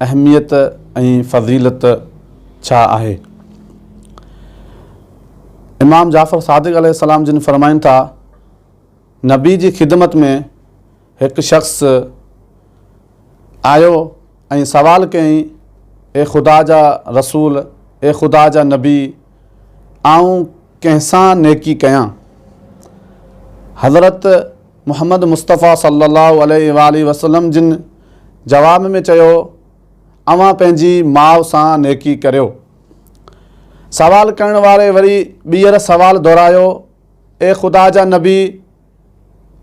اهميت ۽ فضيلت ڇا آهي؟ امام جعفر صادق عليه السلام جن فرمائن ٿا، نبي جي خدمت ۾ هڪ شخص آيو ۽ سوال ڪيائين، اي خدا جا رسول، اي خدا جا نبي، آئون ڪنهن سان نيڪي ڪيان؟ حضرت محمد مصطفيٰ صلّي اللّٰه عليه واٰله وسلّم جن جواب ۾ چيو، اوهان پنهنجي ماء سان نيڪي ڪريو. سوال ڪرڻ واري وري ٻيهر سوال دهرايو، اي خدا جا نبي!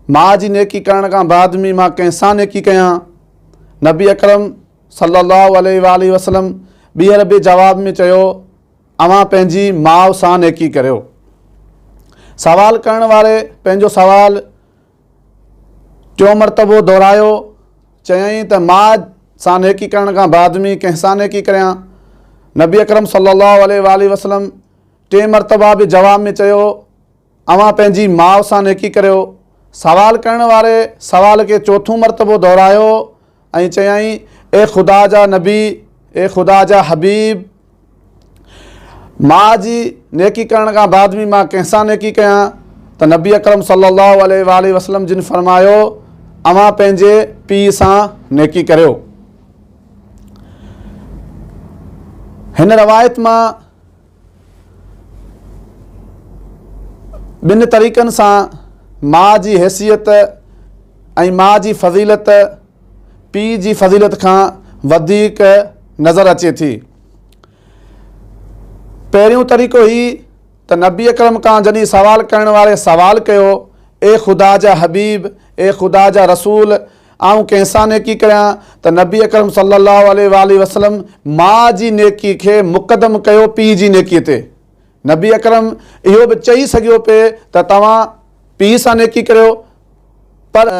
ماء جي نيڪي ڪرڻ کان بعد ۾ مان ڪنهن سان نيڪي ڪيان؟ نبي اڪرم صلّي اللّٰه عليه واٰله وسلّم ٻيهر به جواب ۾ چيو، اوهان پنهنجي ماء سان نيڪي ڪريو. سوال ڪرڻ واري پنهنجو سوال ٽيون مرتبو دهرايو، چيائين ته ماء سان نيڪي ڪرڻ کان بعد ۾ ڪنهن سان نيڪي ڪريان؟ نبي اڪرم صلي الله عليه واٰله وسلم ٽئين مرتبه به جواب ۾ چيو، اوهان پنهنجي ماء سان نيڪي ڪريو. سوال ڪرڻ واري سوال کي چوٿون مرتبو دهرايو ۽ چيائين، اي خدا جا نبي، اي خدا جا حبيب! ماء جي نيڪي ڪرڻ کان بعد به مان ڪنهن سان نيڪي ڪيان؟ ته نبي اڪرم صلّي اللّٰه عليه واٰله وسلّم جن فرمايو، اوهان پنهنجي پيء سان نيڪي ڪريو. هن روايت مان ٻن طريقن سان ماء جي حيثيت ۽ ماء جي فضيلت پيء جي فضيلت کان وڌيڪ نظر اچي ٿي پهريون طريقو هي ته نبي اڪرم کان جڏهن سوال ڪرڻ واري سوال ڪيو اي خدا جا حبيب اي خدا جا رسول آئون ڪنهن سان نيڪي ڪريان ته نبي اڪرم صلي الله عليه واٰله وسلم ماء جي نيڪي کي مقدم ڪيو پيء جي نيڪي تي. نبي اڪرم اهو به چئي سگهيو پئي ته توهان پيء سان نيڪي ڪريو پر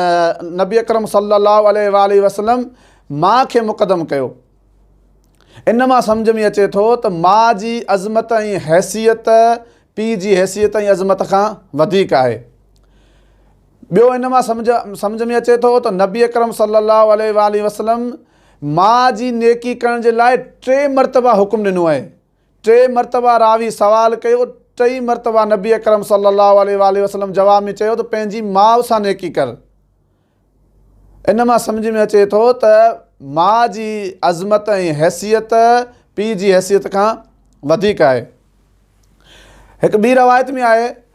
نبي اڪرم صلي الله عليه واٰله وسلم ماء کي مقدم ڪيو. ان مان سمجهه ۾ اچي ٿو ته ماء جي عظمت ۽ حيثيت پيء جي حيثيت ۽ عظمت کان وڌيڪ آهي. ٻيو ان مان سمجهه سمجهه ۾ اچي ٿو ته نبي اڪرم صلي الله عليه واٰله وسلم ماء جي نيڪي ڪرڻ جي لاء ٽي مرتبه حڪم ڏنو اهي. ٽي مرتبه راوي سوال ڪيو، ٽئي مرتبه نبي اڪرم صلي الله عليه واٰله وسلم جواب ۾ چيو ته پنهنجي ماء سان نيڪي ڪر. ان مان سمجهه ۾ اچي ٿو ته ماء جي عظمت ۽ حيثيت پيء جي حيثيت کان وڌيڪ آهي. هڪ ٻي روايت ۾ آهي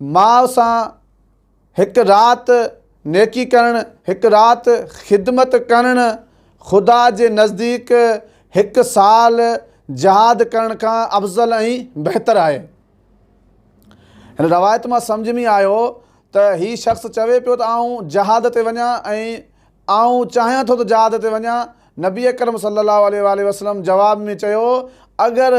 ماء سان هڪ رات نيڪي ڪرڻ، هڪ رات خدمت ڪرڻ، خدا جي نزديڪ هڪ سال جهاد ڪرڻ کان افضل ۽ بهتر آهي. هن روايت مان سمجهه ۾ آيو ته هي شخص چوي پيو ته آئون جهاد تي وڃان ۽ آئون چاهيان ٿو ته جهاد تي وڃان، نبي اڪرم صلي الله عليه واٰله وسلم جواب ۾ چيو اگر